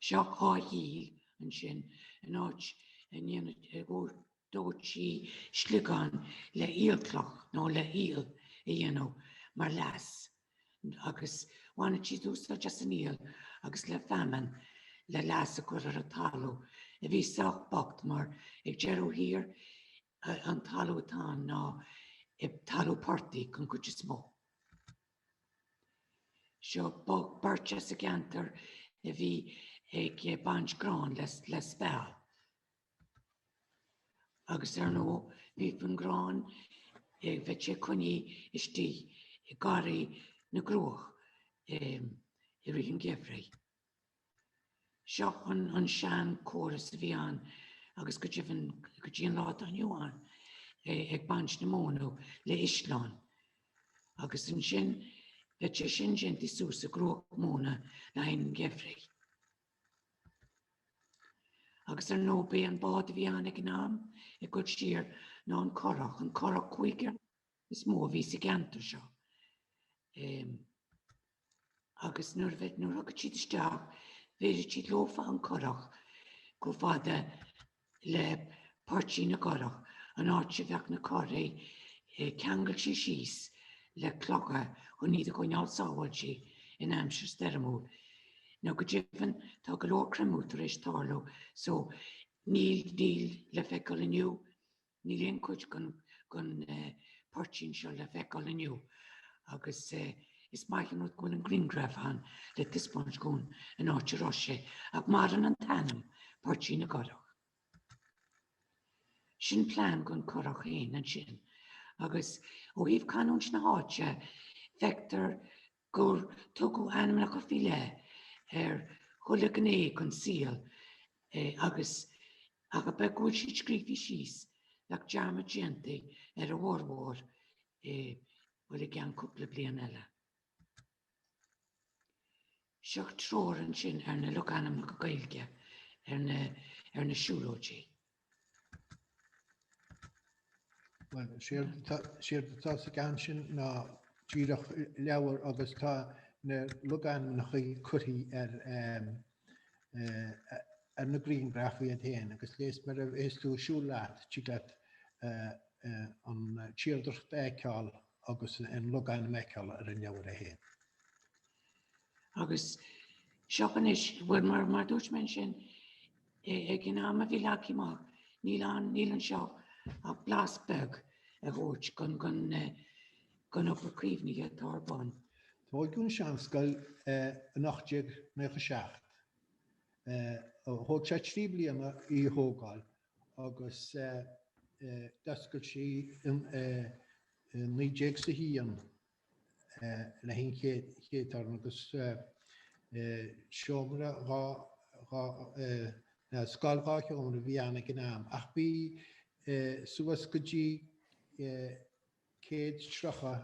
Seo áith aoil ansin an áit a ndéan a dóití sliogáin le aolchloch nó le haol a dhéanamh mar leas agus bhaineadh siad úsáid as an aol agus le feamainn le leas a chur ar an talamh a bhí sách bocht mar ag deireadh thiar An talamh atá ann ná talamh portaigh den chuid is mó. Seo beirt as an gceantar a bhí ag baint gráin le speal. Agus ar ndóigh bhí an grán ag bheadh sé coinnithe istigh i ngarraí na gcruach i rith an gheimhridh. Seo an sean córas a bhí ann agus go deimhin go dtí an lá atá inniu ann ag baint na móna le sleán agus ansin bheadh sé sin déanta suas i gcruach móna le haghaidh an gheimhridh. Agus ar ndóigh b'é an bád a bhí ann ag an am ag dul siar ná an curach, an curach cúigear is mó a bhí sa gceantar seo. Agus nuair a bheadh nuair a thiocfadh siad isteach bhéarfadh siad leofa an curach chomh fada le Poirtín na gCurach an áit a bheadh na curaí ceangailte síos le clocha chun iad a choinneáil sábháilte in aimsir stoirmiúil. Now go deimhin tá go leor creimeadh tar éis tarlú so níl níl le feiceáil inniu Níl aon chuid den poirtín seo le feiceáil inniu agus is maith an rud go bhfuil an grianghraf ann le taispeáint dhúinn an áit a raibh sé ach maireann an t-ainm Poirtín na gCurach. Sin plean den curach féin ansin agus ó thaobh canúint na háite feictear gur tugadh ainmneacha faoi leith ar chuile ghné den saol agus ach a bheith go bhfuil siad scríofa síos, bheadh dearmad déanta ar a bhformhór i, bhuel, i gceann cúpla bliain eile. Seo treoir ansin ar na logainmneacha Gaeilge ar na ar na siúlóidí. Bhuel, séard atá sa gceann sin ná díreach leabhar agus tá na logainmneacha curtha ar na grianghraif iad féin agus de réir is mar a bheas tú ag siúl leat, tig leat an tírdhreacht a fheiceáil agus an logainm a fheiceáil ar an leabhar é féin. Agus stop anois. Bhuel, mar a dúirt mé ansin, Ag an am a bhí leagtha amach, níl ann, níl anseo ach blas beag a thabhairt den den den obair caomhnaithe atá ar bun. Tógadh an Seanscoil in 1897. Thóg sé trí bliana í a thógáil agus d'oscail sí in naoi déag 's a haon le haghaidh an chéad term agus seomra dhá ná scoil dhá sheomra a bhí ann ag an am ach bhí suas go dtí 130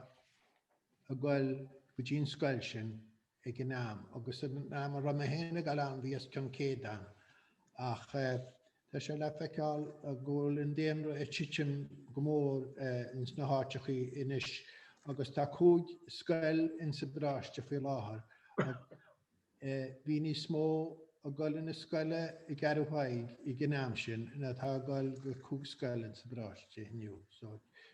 ag goil go dtí an scoil sin ag an am, agus am a raibh mé féin ag dul ann bhí os cionn 100 ann, ach tá sé le feiceáil go bhfuil an daonra ag titim go mór ins na háiteachaí anois agus tá cúig scoil ins an bparáiste faoi láthair. Bhí níos mó ag dul chun na scoile i gCeathrú Thaidhg ag an am sin ná tá ag dul go cúig scoil ins an bparáiste inniu.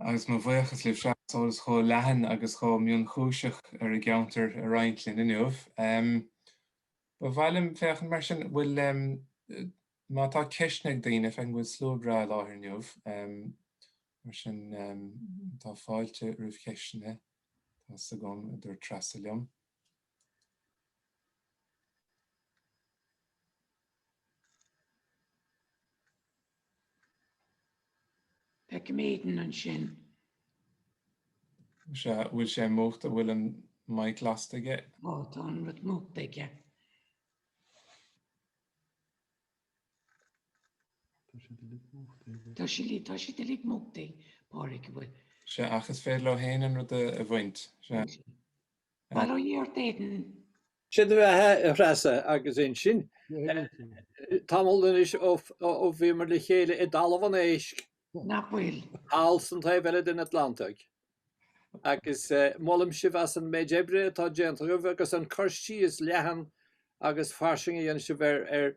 agus mo bhuíochas libhse as eolas chomh leathan agus chomh mionchúiseach ar an gceantar a roinnt linn inniu. Ba mhaith liom féachaint mar sin, an bhfuil, má tá ceisteanna ag daoine, feicim go bhfuil slua breá i láthair inniu, mar sin tá fáilte roimh cheisteanna, tá's agam, a dúirt Treasa liom. Feicim Aidan ansin. Is ea, bhfuil sé múchta, bhfuil an mic lasta aige? Ó, tá an rud múchta aige. Tá siad uilig múchta. Tá siad uilig múchta, Pádraig, an bhfuil? Is ea, ach is féidir leo féin an rud a bhaint. Is ea. mar a dúirt Aidan. Sé do bheatha a Threasa agus ansin tamall anois ó bhíomar le chéile i dTalamh an Éisc, nach bhfuil? thall san taobh eile den Atlantaigh agus molaim sibh as an méid oibre atá déanta agaibh agus an cur síos leathan agus fairsing a dhéanann sibh ar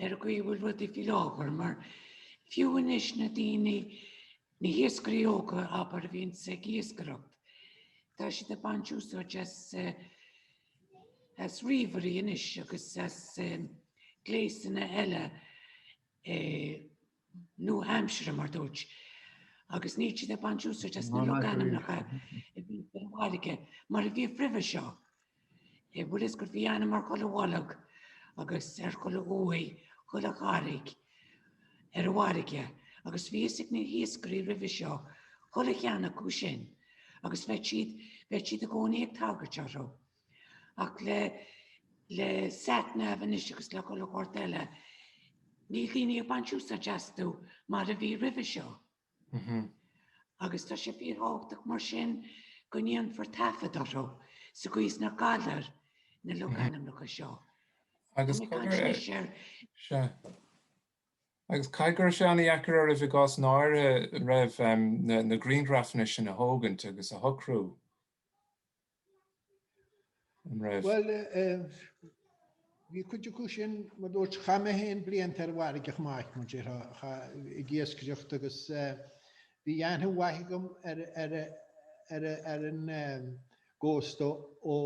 ar an gcaoi a bhfuil rudaí faoi láthair, mar fiú anois na daoine na hiascairí óga abair a bhíonns ag iascaireacht, Tá siad ag baint úsáid as eh, as ríomhairí anois agus as eh, gléisanna eile eh, nua-aimsire, mar dúirt, agus níl siad ag baint úsáid as na logainmneacha a bhí ar an bhfarraige mar a bhíodh roimhe seo. Bhfuil fhios agat, bhí ainm ar chuile bhoilg agus ar chuile uaigh, chuile charraig ar an bhfarraige, agus bhí fhios ag na hiascairí roimhe seo chuile cheann acu sin agus bheadh siad bheadh siad i gcónaí ag tagairt orthu. Ach le le sat nav anois agus le chuile shórt eile, níl daoine ag baint úsáid astu mar a bhí roimhe seo. Agus tá sé fíorthábhachtach mar sin go ndéanfar taifead orthu sa gcaoi is nach gcaillfear na logainmneacha seo. Agus agus caithfidh go raibh sé an-deacair oraibh i gcásanna áirithe, an raibh, na grianghrafanna sin a thógaint agus a shocrú? An raibh? Bhuel, bhí cuid acu sin, mar dúirt, chaith mé féin blianta ar an bhfarraige amuigh, mar dúirt, ag iascaireacht agus bhí aithne mhaith agam ar ar an gcósta ó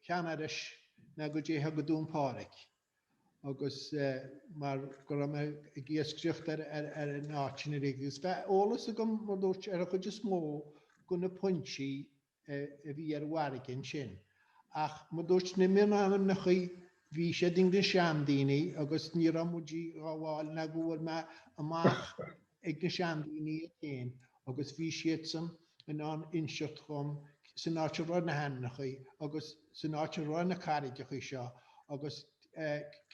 Cheann Iorrais nó go dtí go Dún Pádraig agus mar go raibh mé ag iascaireacht ar ar an áit sin uilig agus bheadh eolas agam, mar dúirt, ar an chuid is mó de na pointí a bhí ar an bhfarraige ansin. Ach mar dúirt na mionainmneacha bhí siad ag na seandaoine agus ní raibh muid dá bhfáil nó go bhfuair mé amach ag na seandaoine iad féin agus bhí siadsan in ann inseacht dhom san áit a raibh na hainmneacha agus san áit a raibh na carraigeacha seo agus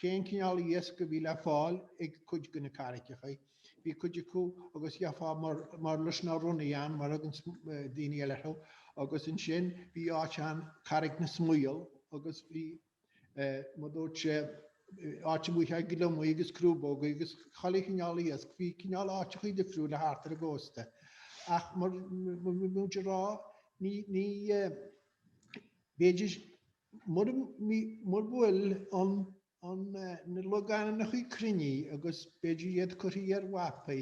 cén cineál iasc a bhí le fáil ag cuid de na carraigeacha. Bhí cuid acu agus gheofá murlais nó ronnaigh ann mar a thugann daoine eile orthu agus ansin bhí áit ann Carraig na Smaoil agus bhí mar dúirt sé áit mhaith le haghaidh gliomaigh agus crúbógaí agus chuile chineál iasc. Bhí cineál áiteachaí difriúla thart ar an gcósta ach mar bhí muid a rá ní ní b'fhéidir mura mura bhfuil an ann na logainmneacha cruinnithe agus b'fhéidir iad curtha ar mhapaí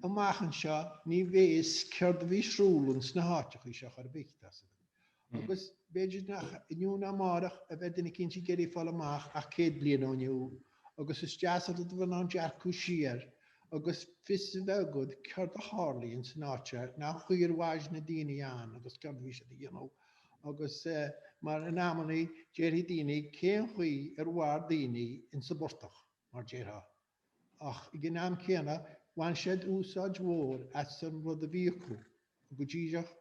amach anseo ní bheidh a fhios céard a bhí ar siúl in sna háiteachaí seo chor ar bith tá a fhios agat. Agus b'fhéidir nach inniu ná amárach a bheidh duine cinnte ag iarraidh fáil amach ach céad bliain ó inniu agus is deas an rud a bheith in ann dearcadh siar agus fios a bheith agat céard a tharlaigh in san áit seo nó cén chaoi ar mhair na daoine ann agus céard a bhí siad a dhéanamh agus mar in amannaí déarfaidh daoine cén chaoi ar mhair daoine in sa bportach, mar déarfá, ach ag an am céanna bhain siad úsáid mhór as an rud a bhí acu, go díreach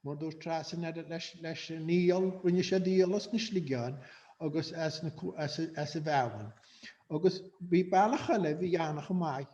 mar dúirt Treasa leis an aol, rinne siad aol as na sliogáin agus as an bhfeamainn. Agus bhí bealach eile a bhí ann chomh maith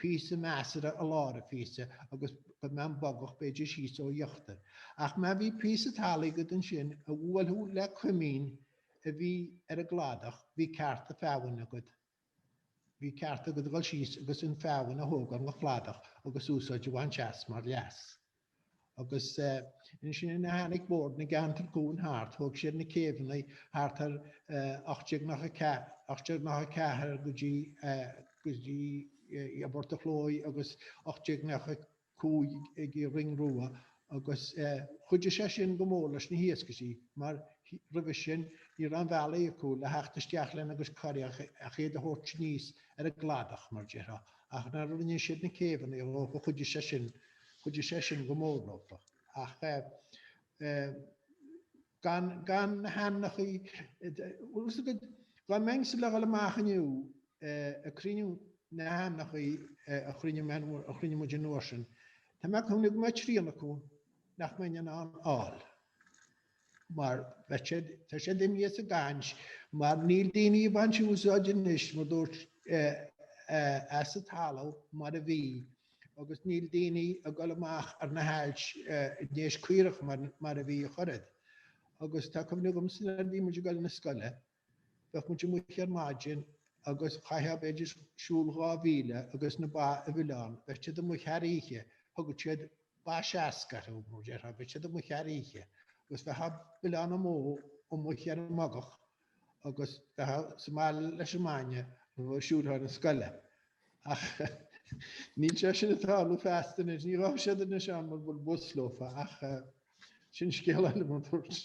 píosa measartha i lár an phíosa agus go mbeadh bogach b'fhéidir síos ó íochtar. Ach má bhí píosa talaimh agat ansin a bhuailfeadh le coimín a bhí ar an gcladach bhí cearta feamainne agat. Bhí ceart agat a dhul síos agus an fheamainn a thógáil den chladach agus úsáid a bhaint as mar leas. Agus ansin nuair a tháinig Bord na gCeantar Cúng thart, thóg siad na céibheannaí thart ar 1894 go dtí go dtí i bPort a' Chlóidh agus 1895 ag an Rinn Rua agus chuidigh sé sin go mór leis na hiascairí mar roimhe sin ní raibh aon bhealaí acu le theacht isteach lena gcuid curach ach iad a thabhairt aníos ar an gcladach mar déarfá. Ach nuair a rinne siad na céibheanna ó chomh chuidigh sé sin, chuidigh sé sin go mór leofa. Ach gan gan na hainmneachaí dhá mbeinnse le dhul amach inniu ag cruinniú na hainmneachaí a chruinnigh muid an uair sin tá mé ag cuimhneamh go mbeadh trian acu nach mbeinn in ann a fháil. mar tá siad imithe as an gcaint, mar níl daoine ag baint úsáid anois, mar dúirt as an talamh mar a bhí, agus níl daoine ag dul amach ar na hailt i ndéis caorach mar a bhí ach oiread. Agus tá cuimhne agamsa nuair a bhí muid ag dul 'na scoile, Bheadh muid amuigh ar maidin agus chaithfeá b'fhéidir siúl dhá mhíle agus na ba a bhleán, bheadh siad amuigh thar oíche, thugadh siad ba seasca orthu mar déarfá, bheadh siad amuigh thar oíche. Agus iad a bhleán amuigh amuigh ar an mbogach agus a bheith sa mbaile leis an mbainne le bheith ag siúl chun na scoile. Ach níl sé sin ag tarlú feasta anois, ní rachaidh siad anois ann mura bhfuil bus leofa ach sin scéal eile mar dúirt.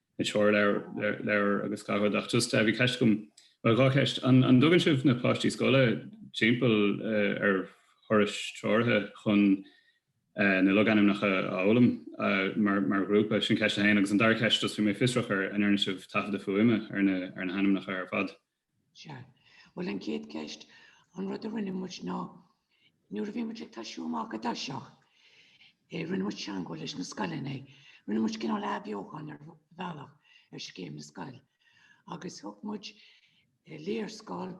na treoirleabhair agus gach rud ach just bhí ceist agam, bhuel dhá cheist, an dtugann sibh na páistí scoile timpeall ar thurais treoraithe chun na logainmneacha a fhoghlaim mar ghrúpa, sin ceist a haon agus an dara ceist just bhí mé fiosrach an ndearna sibh taifeadadh fuaime ar na hainmneacha ar fad? Sea. Bhuel, an chéad ceist, an rud a rinne muid ná, nuair a bhí muid ag tosú amach i dtoiseach, eh, rinne muid teangmháil leis na scoileanna eh. Rinne muid cineál athbheochan ar bhealach ar scéim na scol. Agus thug muid eh, léarscáil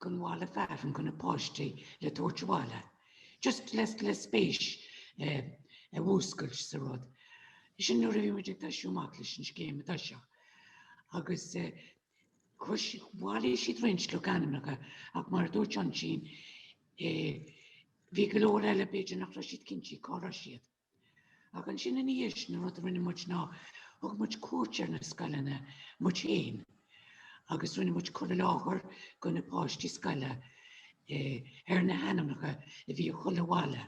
gon bhaile fearainn go na páistí le tabhairt abhaile. Just le, le spéis eh, a mhúscailt sa rud. Sin nuair a bhí muid ag tosú amach leis an scéim i dtoiseach. Agus eh, Chuir, bhailigh siad roinnt logainmneacha ach mar a dúirt mé ansin eh bhí go leor eile b'fhéidir nach raibh siad cinnte cá raibh siad. Ach ansin ina dhiaidh sin an rud a rinne muid ná thug muid cuairt ar na scoileanna muid féin agus rinne muid cur i láthair go na páistí scoile eh ar na hainmneacha a bhí i chuile bhaile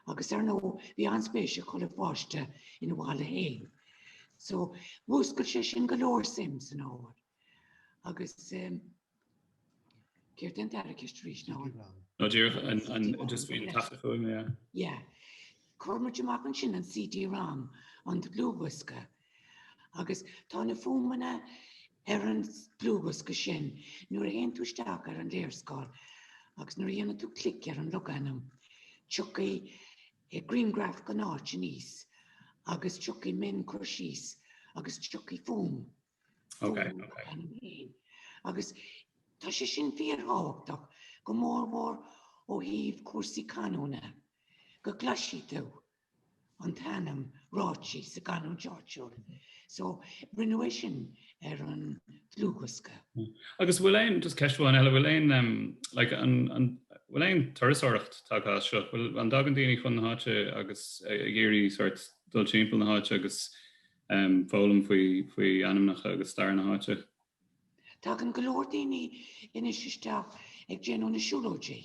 Agus ar ndóigh bhí an-spéis ag chuile pháiste ina bhaile fhéin. So mhúscail sé sin go leor suim san ábhar. Agus ehm céard é an dara ceist arís ná an. Nó díreach an an just faoin taifeadadh fuaime, yeah. Yeah. Chuir muid amach ansin an CD-rom, an dlúthdhiosca, Agus tá na fuaimeanna ar an dlúthdhiosca sin, nuair a théann tú isteach ar an léarscáil agus nuair a dhéanann tú clic ar an logainm, tiocfaidh grianghraf den áit aníos agus tiocfaidh mionchur síos agus tiocfaidh fuaim. Okay, okay. Agus tá sé sin fíorthábhachtach go mór mór ó thaobh cúrsaí canúna go gcloisfidh tú an t-ainm ráite sa gcanúint áitiúil. So, rinneadh é sin ar an dlúthdhiosca. Agus bhfuil aon, just ceist amháin eile, bhfuil aon em, like an, an, bhfuil aon turasóireacht tagtha as seo? Bhfuil, an dtagann daoine chun na háite agus ag iarraidh sort dul timpeall na háite agus em, foghlaim faoi, faoi ainmneacha agus stair na háite? Tagann go leor daoine anois isteach ag déanamh na siúlóidí.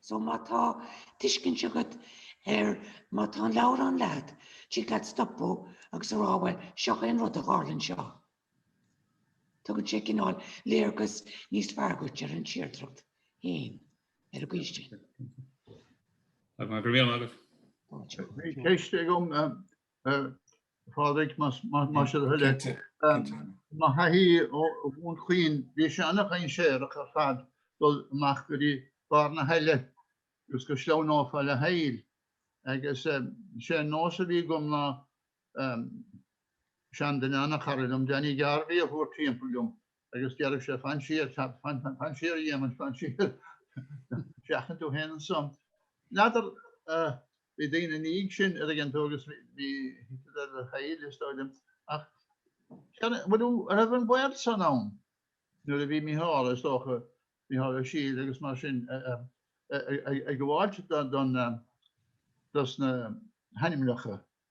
So má tá tuiscint agat ar, má tá an leabhar sin leat, tig leat stopadh agus a rá bhuel seo é an rud a tharla anseo. Tugann sé cineál léargas níos fearr duit ar an tírdreacht féin ar an gcaoi sin. Go raibh maith agat. Ceist agam Pádraig, más é do thoil é. Mo thaithí ó Dhún Chaoin, bhí sé an-dhainséarach ar fad dul amach go dtí barr na haille agus go sleamhnófá le haill. Agus sé an nós a bhí agam ná seanduine an-chara liom, Danny Garvey, a thabhairt timpeall liom. agus déarfadh sé fan siar, fan siar a Dhéamaint, fan siar, seachain tú féin annso. N'fheadar, bhí daoine ina dhiaidh sin a' dtuigeann tú agus bhí thit le haill is dóigh liom ach an raibh an baol san ann nuair a bhí Micheál is dócha, Micheál Ó Siadhail agus mar sin ag gabháilt dos na hainmneacha.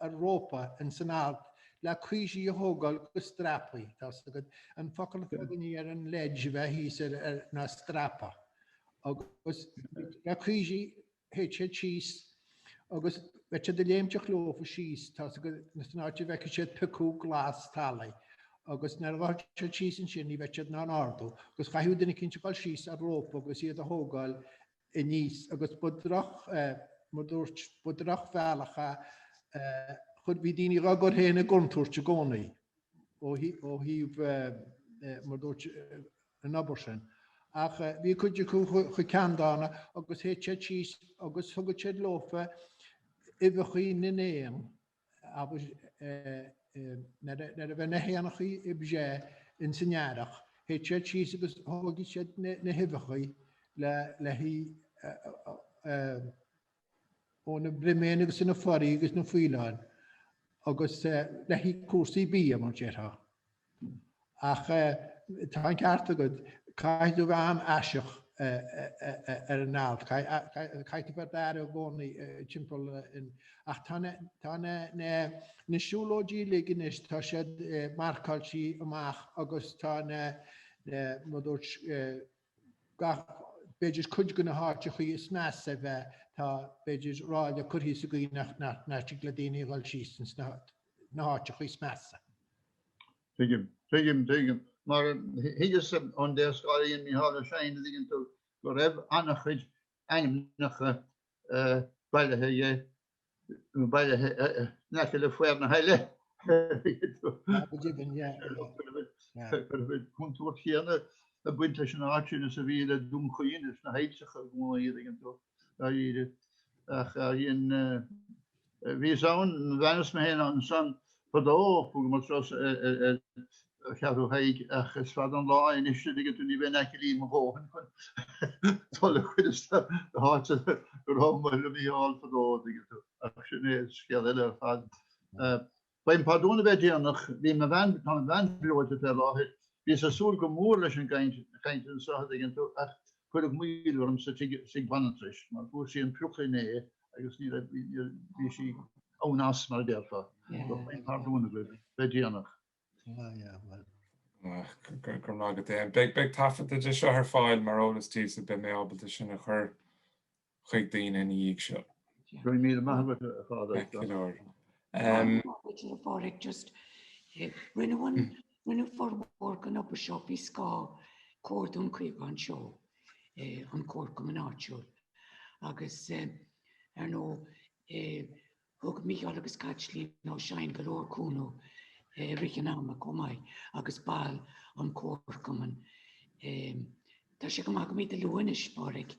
ar rópa in san alt le caoirigh a thógáil go strapaí. Tá fhios agad an focal atá againne ar an ledge a bheith thíos air ná strapa. Agus le caoirigh théadh siad síos agus bheadh siad ag léimteach leofa síos. Tá fhios agad in san áit a bhfeicfeadh siad piocadh glas talaigh. Agus nuair a ghabhadh siad síos ansin ní bheadh siad in ann ardú. Agus chaithfeadh duine eicínt a dhul síos ar rópa agus iad a thógáil aníos agus ba droch, mar dúirt, ba drochbhealach a, chuir, bhí daoine dhá gcur féin i gcontúirt i gcónaí ó thaobh, mar dúirt, an obair sin. Ach bhí cuid acu chomh ceanndána agus théadh siad síos agus thugadh siad leofa uibheachaí na n-éan, agus nuair a bheadh na h-éanachaí ag breith ins an Earrach théadh siad síos agus thugadh siad na h-uibheachaí le h-ithe ó na briméanna agus na foraí agus na faoileáin agus le haghaidh cúrsaí bídh mar déarfá. Ach tá an ceart agat, caithfidh tú bheith an-aireach ar an alt, caithfidh tú bheith ar d'aire i gcónaí timpeall an, ach tá na, tá na, na, na siúlóidí uilig anois, tá siad marcáiltí amach agus tá na, na, mar a dúirt eh, gach, b'fhéidir cuid go na háiteachaí is measa a bheith, tá, b'fhéidir, ráille curthaí sa gcaoi nach dtig le daoine a dhul síos ins na háiteachaí is measa. Tuigim, tuigim, tuigim. Mar thuigeas ón léarscáil a dhein Mícheál Ó Seighin, a' dtuigeann tú, go raibh ana-chuid ainmneacha bailithe aige a bhí in aice le faobhar na haille. Go deimhin, yeah. Go raibh an contúirt chéanna ag baint leis an áit sin is a bhí le Dún Chaoin is na hailltreacha, a' dtuigeann tú, dáiríre. Ach bhíos ann, d'fhanas mé féin ansan Fadó i gCeathrú Thaidhg ach is fada an lá é anois a dtuigeann tú, ní bheinn aclaí mo dhóthain chun dul go dtí na háiteanna go raibh Muire a Mhícheáil fadó, a dtuigeann tú. Ach sin é scéal eile ar fad. Gabhaim pardún as bheith déanach, bhí mo bhean, tá mo bhean breoite fé láthair, bhíos ag súil go mór leis an gcaint anseo a dtuigeann tú ach cuireadh moill orm sa tigh banaltrais mar fuair sí an prioc inné agus ní raibh, bhí sí on us mar a déarfá. Gabhaim pardún agaibh as bheith déanach. Ah yeah, well. Go raibh maith agat Éamonn. Beidh taifeadadh de seo ar fáil mar eolas daoibhse, beidh mé ábalta sin a chur chuig daoine ina dhiaidh seo. Go raibh míle maith agat a Phádraig. Go leor. Rinneadh an Rinneadh formhór den obair seo faoi scáth Comhar Dún Chaocháin anseo, an comharchumann áitiúil, agus ar ndóigh thug Mícheál agus Caitlín Ó Seighin go leor cúnamh i rith an ama chomh maith agus baill an comharchumainn. Tá sé go maith go mbeidís luaite anois, Pádraig.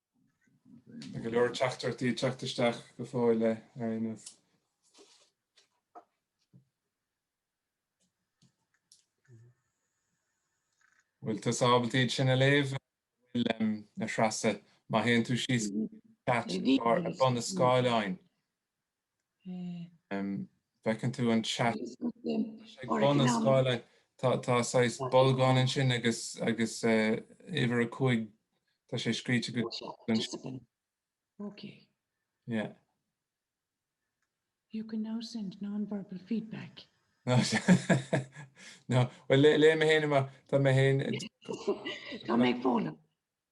Tá go leor teachtaireachtaí ag teacht isteach go fóill léir anois. Bhfuil tusa ábalta iad sin a léamh a bhfuil a Threasa? Má théann tú síos go chat ar bun an scáileáin. Feiceann tú an chat ag bun an scáileáin, tá saghas bolgáin ansin agus agus uimhir 5, tá sé scríte agat ansin. Ok. Yeah. You can now send non-verbal feedback. No, bhuel léifidh mé fhéin amach, tá mé fhéin. Tá mé ag foghlaim.